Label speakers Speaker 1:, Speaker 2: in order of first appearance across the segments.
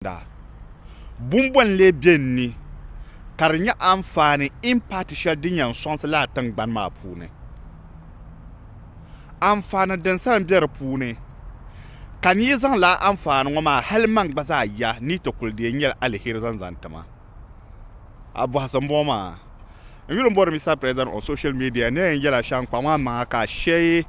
Speaker 1: Zaŋda bumbɔn n-lee be n ni ka di nyɛ anfaani, impact, shɛli din yɛn sɔŋsi lala tiŋgbani maa puuni? Anfaani din sa m-be di puuni, ka n yi zaŋ lala anfaani ŋɔ maa hali man gba zaa ya ni yi ti kuli deei n-nyɛla aliheri zaŋ zaŋ ti ma. a bɔhisi m-bɔŋɔ maa n yuli m-bɔri Mister President on social media ni a yɛn yɛla shɛm kpaŋ maa maŋa ka a share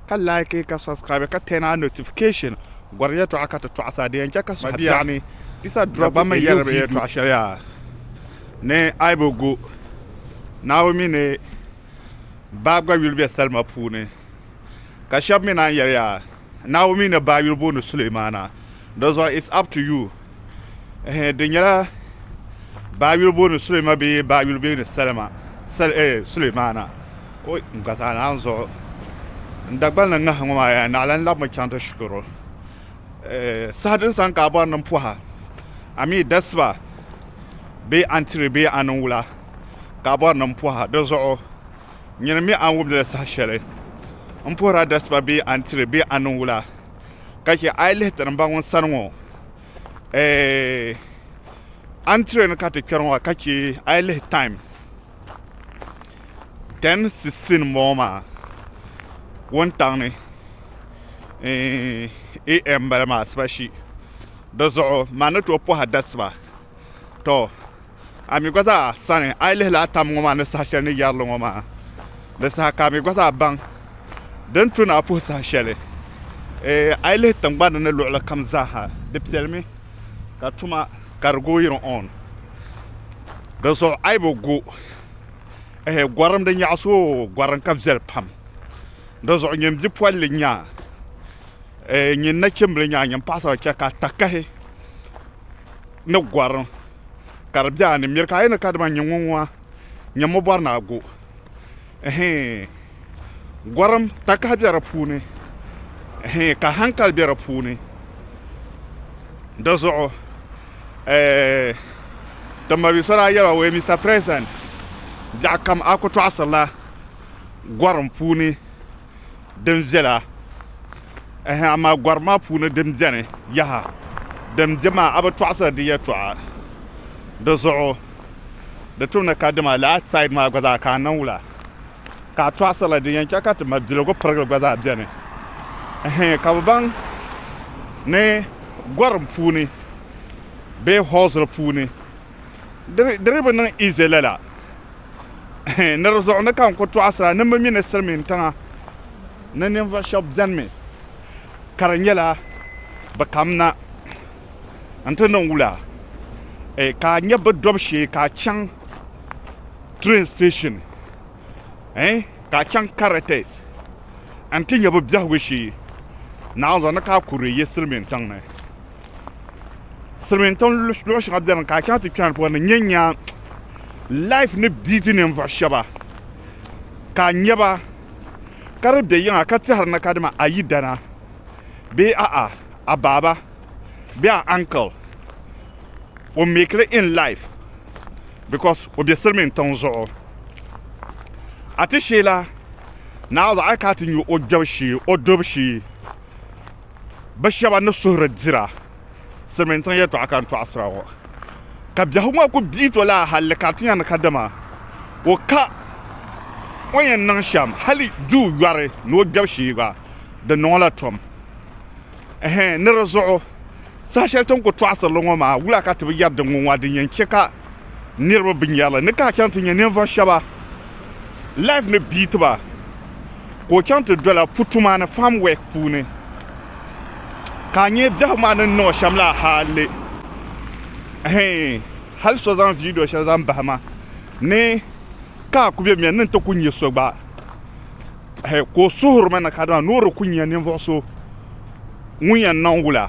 Speaker 1: ka like ka subscribe ka turn on notification gɔri yɛtɔɣa ka ti tɔɣisi a di yɛn chɛ ka suhi biɛɣuni Mister drop a new video Dagbanmi yɛri yɛtɔɣa shɛli yaa ni a yi bi gu Naawuni mi ni baa gba yuli be salima puuni ka shɛba mi naan yɛli yaa Naawuni mi ni baa yuli booni Sulemaana di zuɣu it's up to you. ehe di nyɛla baa yuli booni Sulema bee baa yuli booni Salima sal eh Sulemana o n gba zaa naan zuɣu n Dagbani ni ŋahi ŋɔ maa yaa naɣila n labimi chaŋ ti shikuru eh saha din sani ka a bɔri ni n pɔha a mi dasiba bee a ni tiri bee a ni wula ka a bɔri ni n pɔha di zuɣu nyini mi a ni wumdili saha shɛli n puhiri a dasiba bee a ni tiri bee a ni wula ka chɛ a yi lihi tirimba ŋun sani ŋɔ antre ni ka ti kpɛri ŋɔ ka chɛ a yi lihi time 10:16 m-bɔŋɔ maa wuntaŋ ni am bala maa asiba shi di zuɣu ma ni tooi pɔhi adasiba tɔ a mi gba zaa sani a yi lihila a tam ŋɔ maa ni saha shɛli ni yɛrili ŋɔ maa di saha ka a mi gba zaa baŋ din tu ni a puhi saha shɛli ee a yi lihi tiŋgbani ni luɣuli kam zaaha di piɛlimi ka tuma ka di going on di zuɣu a yi bi gu ehe gɔrim di nyaɣisi o gɔrim ka viɛli pam di zuɣu nyin bipolili nya ee nyin nachimbili nya nyin paɣasara chɛ ka a takahi ni gɔrim ka di be a ni miri ka a yɛli ni kadama n-nyɛ ŋun ŋɔ a nyami o bɔri ni a go ɛhii gɔrim takahi be di puuni ɛhii ka hankali be di puuni di zuɣu ɛɛh Timbabia so daa yɛli o yɛli Mister President biɛɣukam a ku tɔɣisiri la gɔrim puuni. din viɛla ɛhɛn amaa gɔri maa puuni din beni yaha din be maa a bi tɔɣisiri di yɛltɔɣa di zuɣu di tumdi ka dama lala outside maa gba zaa ka a niŋ wula ka a tɔɣisirila din yɛn che ka ti ma biligu pirigili gba zaa beni ɛhɛn ka bi baŋ ni gɔrim puuni bee hɔɔsiri puuni Di di bi niŋ ize lala. Ni di zuɣu ni ka n ku tɔɣisira ni mi mi ni silimiin tiŋa ni ninvuɣ shɛb bɛnimi ka di nyɛla bɛ kamina nti niŋ wula ka a nya bɛ dɔbu shee ka a chaŋ train station ka a chaŋ Carretes nti nya bɛ biɛhigu shee naanzuɣu ni ka a ku di yi silimiin tiŋ ni. silmiin tiŋ luɣu shɛŋa biɛni ka a chaŋ ti kpɛna puuni n nyɛ n nya laif ni biiti ninvuɣu shaba ka a nyɛ ba ka di bɛ yiŋa ka tɛhiri na kadama a yidana bee a'a a baaba bee a ankil o meekiri in laif bikos o bɛ silmiin tiŋ zuɣu a ti sheela naawuni a ni kana ti nyɛ o dubu shee bi shɛba ni suhiri dira silimiintiŋ yɛltɔɣa ka n tɔɣisira ŋɔ ka biɛhigu ŋɔ kuli bia to lala halli ka di ti nya ni kadama o ka o ni yɛn niŋ shɛm hali duu yɔri ni o gbɛbu shee gba di niŋ o la tom ɛhɛn ni di zuɣu saha shɛli ti ni kuli tɔɣisiri li ŋɔ maa wula ka ti bi yɛri din ŋɔ maa din yɛn che ka Niriba binyɛrili ni ka a chaŋ ti nya ninvuɣ shɛba laif ni biiti ba ka o chaŋ ti dola putu maa ni faam wɛk puuni ka a nya biɛhigu maa ni ni niŋ o shɛm la hali hali so zaŋ viidiyo shɛli zaŋ bahi ma ni ka a ku be miya ni n ti ku nya so gba ka o suhiri ma ni kadama ni o di ku nya ninvuɣ so ŋun yɛn niŋ wula.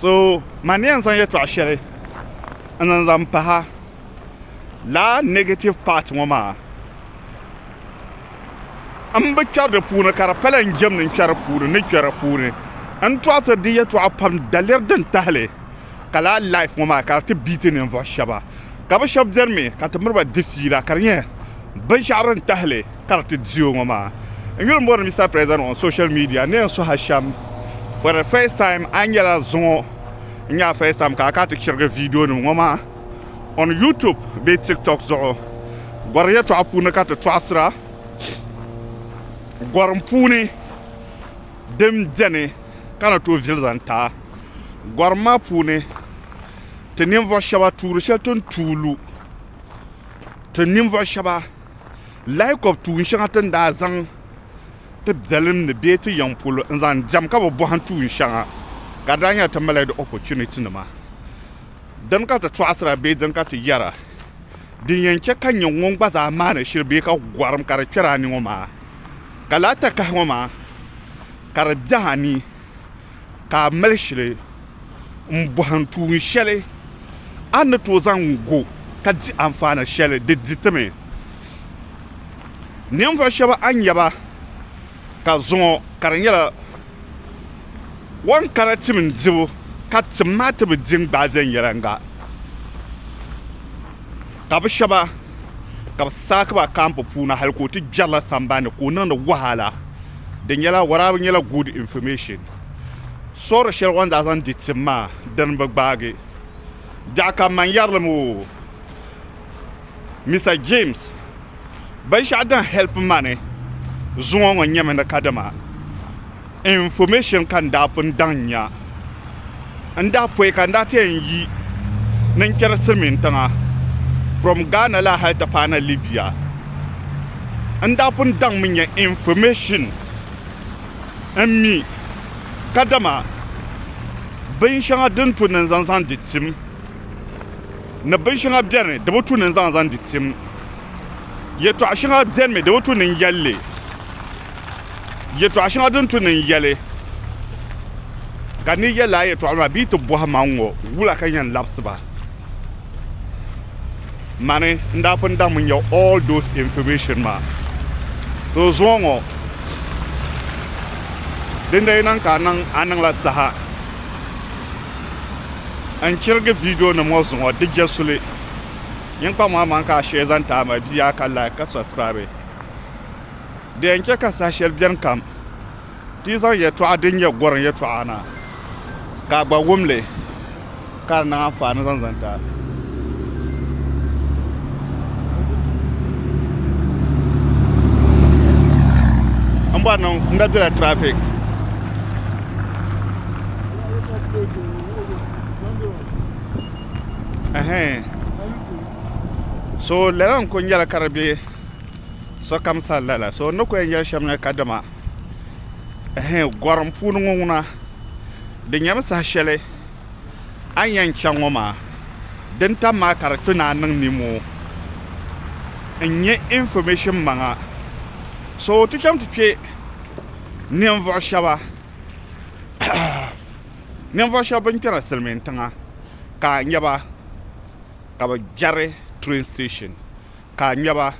Speaker 1: so man yɛn zaŋ yɛtɔɣ shɛli n-niŋ zaŋ pahi a laa negative part ŋɔ maa m bi kpɛri di puuni ka di pala n jɛm ni n kpɛri puuni ni kpɛri puuni n tɔɣisiri di yɛtɔɣa pam daliri din tahili ka laa life ŋɔ maa ka di ti biiti ninvuɣ shɛba ka bɛ shɛba benimi ka ti miri ba di fiila ka di nyɛ binshɛɣu din tahili kariti diyo ŋɔ maa. N yuli m-bɔri Mister President on social media ni yɛn suhi a shɛm for the first time a nyɛla zuŋɔ n-nyɛ a first time ka a ka a ti chirigi viidionima ŋɔ maa on YouTube bee TikTok zuɣu. Gɔri yɛltɔɣa puuni ka ti tɔɣisira gɔrim puuni din beni ka ni tooi vili zaŋ ti a. Gɔrim maa puuni ti ninvuɣ shɛba tuuri shɛli ti ni tuui lu ti ninvuɣ shɛba. Laikob tuun shɛŋa ti ni daa zaŋ ti biɛlim ni bee ti yiŋ polo n-zaŋ diɛm ka bi bɔhim tuun shɛŋa ka di daa nyɛla ti malila di opportunitinima. Dini ka ti tɔɣisira bee dini ka ti yɛra? Din yɛn chɛ ka n nyɛ ŋun gba zaa maani shili bee ka gɔrim ka di kpɛri a ni ŋɔ maa, ka lahi takahi ŋɔ maa ka di biɛhi a ni. ka a mali shili m-bɔhim tuun shɛli a ni tooi zaŋ go ka di anfaani shɛli di di ti mi. Ninvuɣ shɛba a ni nya ba ka zuŋɔ ka di nyɛla wɔn kana tim n-dibu ka tim maa ti bi di n-gbaai viɛnyɛliŋga ka bɛ shɛba ka bɛ saaki ba kambu puuni hali ka o ti kpɛrila sambani ni ka o niŋdi wahala di nyɛla Waraabu nyɛla good information soori shɛli o ni daa zaŋ di tim maa dini bi gbaagi daɣi ka man yɛrilim o Mister James binshɛɣu din help ma ni zuŋɔ ŋɔ nyɛmi ni kadama Information ka n daa pun daŋ nya n daa pɔi ka n daa ti yɛn yi ni n kpɛri silimiin tiŋa from Ghana la hali ti paai na Libya. N daa pun daŋ mi nya information n mi kadama bin shɛŋa din tu ni n zaŋ zaŋ di tim ni bin shɛŋa beni di bi tu ni n zaŋ zaŋ di tim. Yɛtɔɣ shɛŋa beni mi di bi tu ni n yɛl li. yɛtɔɣ shɛŋa din tu niŋ yɛli, ka n ni yɛl a yɛtɔɣ maa bɛ yi ti bɔhi ma ŋ-ŋɔ, wula ka n yɛn labisi ba? Mani n daa pun daŋmi nya all those information maa. So zuŋɔ ŋɔ, din daa yi niŋ ka a niŋ, a niŋ la saha n chirigi videonim ŋɔ zuŋɔ di je suli. Nyin kpaŋmaŋmaŋ ka a share zaŋ ti a ma bia ka like ka subscribe. Di yɛn chɛ ka saha shɛli beni kam ti yi zaŋ yɛtɔɣa din nyɛ gɔrim yɛtɔɣa na ka a gba wum li, ka di niŋ anfaani zaŋ zani ti a. M bɔri ni n da bela traffic. Ɛhɛn. So lala n-kuli nyɛla ka di be sokam sani lala. So n ni ku yɛn yɛli shɛm ni kadama ehe gɔrim puuni ŋɔ ŋuna di nyɛmi saha shɛli a ni yɛn chaŋ ŋɔ maa din tam maa ka di ti naai niŋ nimoo n nyɛ information maŋa so ti chaŋ ti kpɛ ninvuɣu shɛba ninvuɣu shɛba bin kpɛri silimiin tiŋa ka a nyɛba ka bi gbɛri train station. ka a nyaba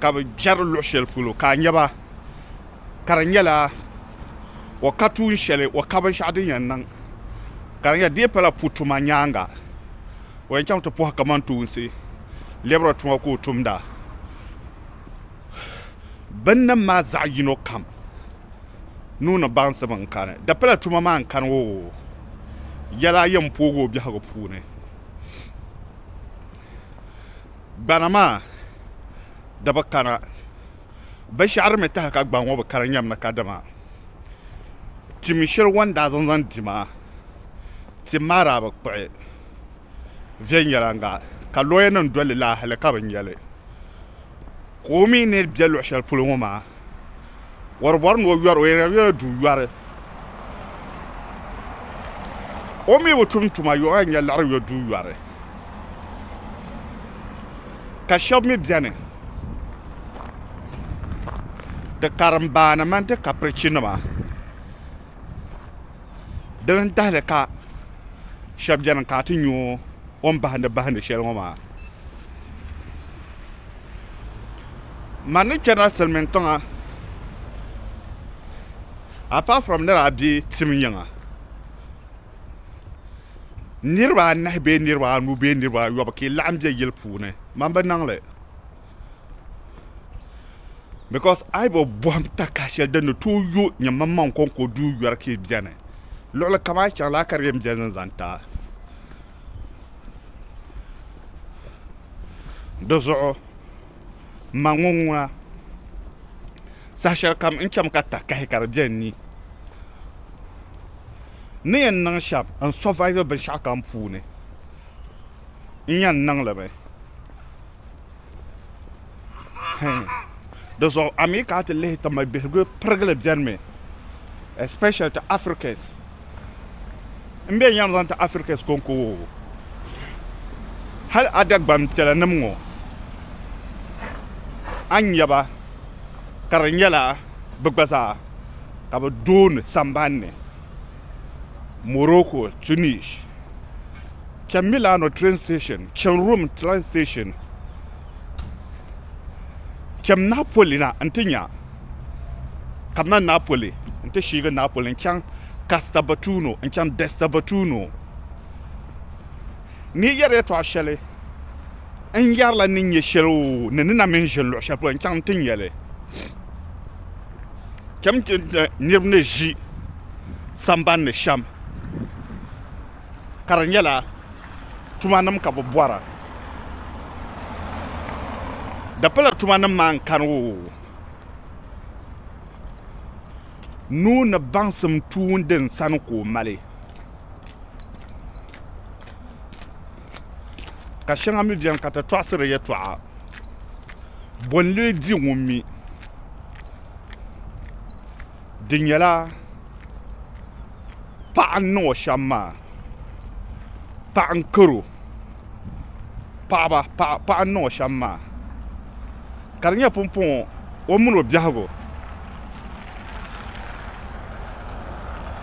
Speaker 1: ka bɛ jɛri luɣ shɛli polo ka a nyaba ka di nyɛla o ka tuun shɛli o ka binshɛɣu din yɛn niŋ ka di nyɛla di yɛn pala pu tuma nyaaŋa o yɛn chaŋ ti pɔhi kamantoonsi lɛbiri tuma ka o tumda binnim maa zaɣ yino kam nuu ni baŋsim n-kani di pala tuma maa n-kani o yɛla yɛn pooi o biɛhigu puuni Gbana maa di bi kana. Binshɛɣu din mi tahi ka gbaŋ ŋɔ bi kana nyɛm ni kadama tim shɛli o ni daa zaŋ zaŋ di maa, tim maa daa bi kpuɣi viɛnyɛlanga ka lɔyanim dol li la hali ka bi nya li. ka o mi ni be luɣ shɛli polo ŋɔ maa, wɔribɔri ni o yɔr o yɛnla yɔla duu yɔri. O mi bi tum tuma yɔya n-nyɛ liɣiri yɔ duu yɔri, ka shɛb mi beni di karimbaani mini di kapirichinima. Dini n tahali ka shɛba bɛni ka ti yɛ o ni bahindi bahindi shɛli ŋɔ maa mani ni kpɛrila silimiin tiŋa apart from ni daa bɛ tim yiŋa niriba anahi bɛɛ niriba anu bɛɛ niriba ayobu ka yi laɣim bɛ yili puuni mani bi niŋli. because a yi bi bɔhim takiha shɛli din ni tooi yo nyɛmaŋmaŋ kɔŋko duu yɔri ka yi beni luɣili kam a yi chaŋ laa ka di yɛn beni ni zaŋ ti a di zuɣu m ma ŋɔ ŋuna saha shɛli kam n chami ka takahi ka di be n ni ni yɛn niŋ shɛm n survive binshɛɣu kam puuni n yɛn niŋ li mi Di zuɣu a mi ka a ti lihi ti mali bihigu pirigili bɛnimi especially ti Africans n bɛ yɛm zaŋ ti Africans konko woo hali a Dagban piɛla nim ŋɔ a nyɛba ka di nyɛla bi gba zaa ka bi dooni sambani ni Morocco, Tunis, chani Milano train station, chani Rome train station, chani Napoli na n-ti nya ka mali Napoli n-ti shiigi Napoli n-chaŋ Castelvettuno n-chaŋ Destelvettuno. Ni yɛri yɛtɔɣ shɛli n yɛrila ni nya shɛli oo ni ni na mini ʒini luɣ shɛli polo n-chaŋ n-ti nya li. Cham ti ni niriba ni ʒi sambani ni shɛm ka di nyɛla tuma nima ka bɛ bɔra dapala tuma nima maa n-kani o nuu ni baŋsim tuun din sani ka o mali. ka shɛŋa mi beni ka ti tɔɣisiri yɛtɔɣa bɔ n-lee di ŋun mi di nyɛla paɣa n-niŋ o shɛm maa paɣa n-karo paɣaba paɣa n-niŋ o shɛm maa ka di nyɛ pumpɔŋɔ o mini o biɛhigu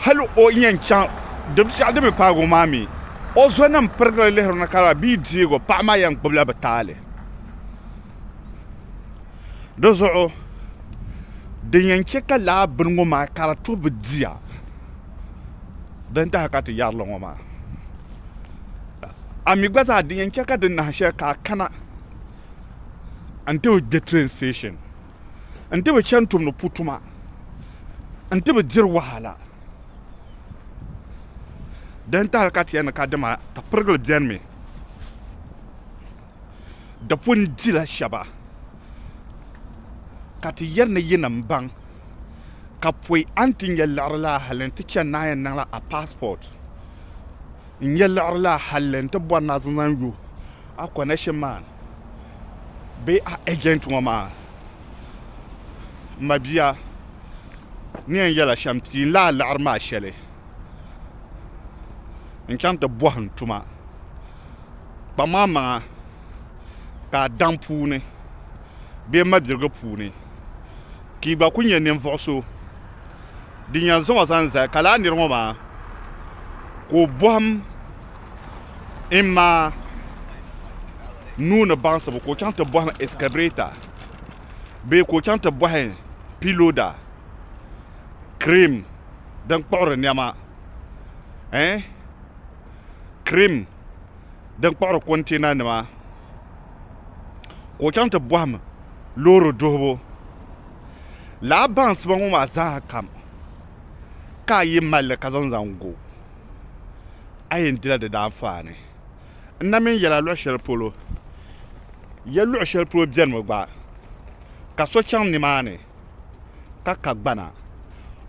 Speaker 1: hal o ni yɛn chaŋ di binshɛɣu din mi paagi o maa mi o zonim pirigili lihiri ni ka lala bia deego paɣa maa yɛn gbubila bi taali di zuɣu din yɛn chɛ ka laa bini ŋɔ maa ka di to bi diya din tahi ka ti yɛrili ŋɔ maa a mi gba zaa din yɛn chɛ ka di nahi shɛli ka a kana n ti bi gbe train station, n ti bi chani tumdi pu tuma, n ti bi diri wahala. Di ni tahili ka ti yɛn ni ka di maa, ka pirigili bɛnimi di pun dila shɛba, ka ti yɛn ni yi ni m-baŋ ka pɔi a ni ti nya liɣiri la halli n ti chani ni a yɛn niŋla a passport n-nya liɣiri la halli n ti bɔri ni a zaŋ zaŋ yo A connection man bee a agent ŋɔ maa n ma bia ni yɛn yɛla shɛm ti n lahi laɣiri maa shɛli n chaŋ ti bɔhi n tuma kpaŋ maa maŋa ka a daŋ puuni bee mabiligi puuni ka i gba ku nyɛ ninvuɣu so din yɛn zaŋ o zaŋ zali ka lala niri ŋɔ maa ka o bɔhim in maa nuu ni baŋsibu ka o chaŋ ti bɔhim excavator bee ka o chaŋ ti bɔhi piloda cream din kpuɣiri nɛma eh cream din kpuɣiri container nima ka o chaŋ ti bɔhim loori duhibu lala baŋsiba ŋɔ maa zaa kam ka a yi mali li ka zaŋ zaŋ go a yɛn dila di daanfaani. N na mini yɛla luɣ shɛli polo, ya luɣ shɛli polo bɛnimi gba, ka so chaŋ nimaani ka ka gbana,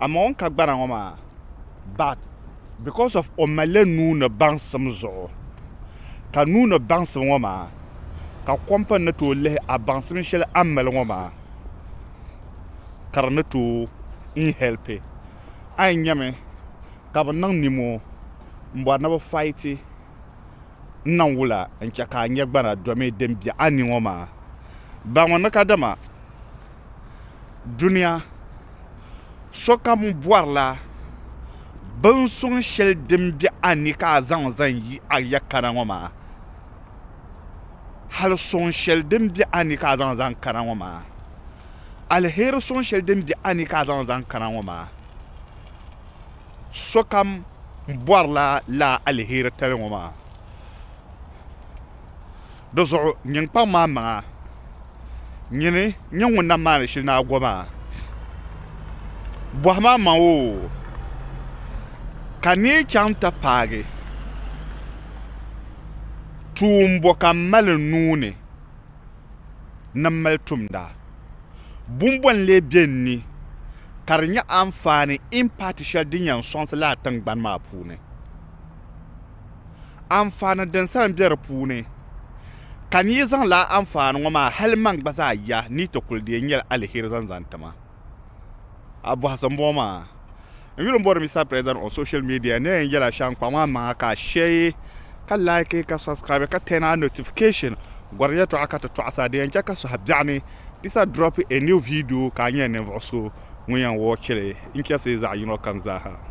Speaker 1: amaa o ni ka gbana ŋɔ maa, but because of o malila nuu ni baŋsim zuɣu, ka nuu ni baŋsim ŋɔ maa, ka kɔmpani ni tooi lihi a baŋsim shɛli a ni mali ŋɔ maa, ka di ni tooi n helpi a yi nyami. ka bɛ niŋ nimoo m-bɔri ni bɛ faiti n-niŋ wula n-chɛ ka a nya gbana domi din be a ni ŋɔ maa? Baŋmi ni kadama dunia sokam bɔrila binsuŋ shɛli din be a ni ka a zaŋ zan yi a ya kana ŋɔ maa, hal suŋ shɛli din be a ni ka a zaŋ zan kana ŋɔ maa, aliheri suŋ shɛli din be a ni ka a zaŋ zan kana ŋɔ maa. sokam bɔrila laa aliheri tali ŋɔ maa. Di zuɣu nyin kpaŋ maa maŋa, nyini nyɛ ŋun na maani shili ni a go maa. Bɔhi ma maŋ o, ka neei chaŋ ta paagi tuumbo ka m mali n nuu ni. ni m mali tumda. Bumbɔŋ n-lee be n ni ka di nyɛ anfaani in paati shɛli din yɛn sɔŋsi lala tiŋgbani maa puuni. Anfaani din sa m-be di puuni ka n yi zaŋ lala anfaani ŋɔ maa hali man gba zaa ya ni yi ti kuli deei n-yɛli aliheri zaŋ zaŋ ti ma. a bɔhisi m-bɔŋɔ maa. N yuli m-bɔri Mister President on social media ni a yɛn yɛla shɛm kpaŋ maa maŋa ka a share, ka like, ka subscribe, ka turn on notification. Gɔrim yɛtɔɣa ka ti tɔɣisa di yɛn chɛ ka suhi biɛɣu ni di sa drop a new video ka a nyɛ ninvuɣ so ŋun yɛn watch li n-chɛbisi zaɣ yino kam zaa ha.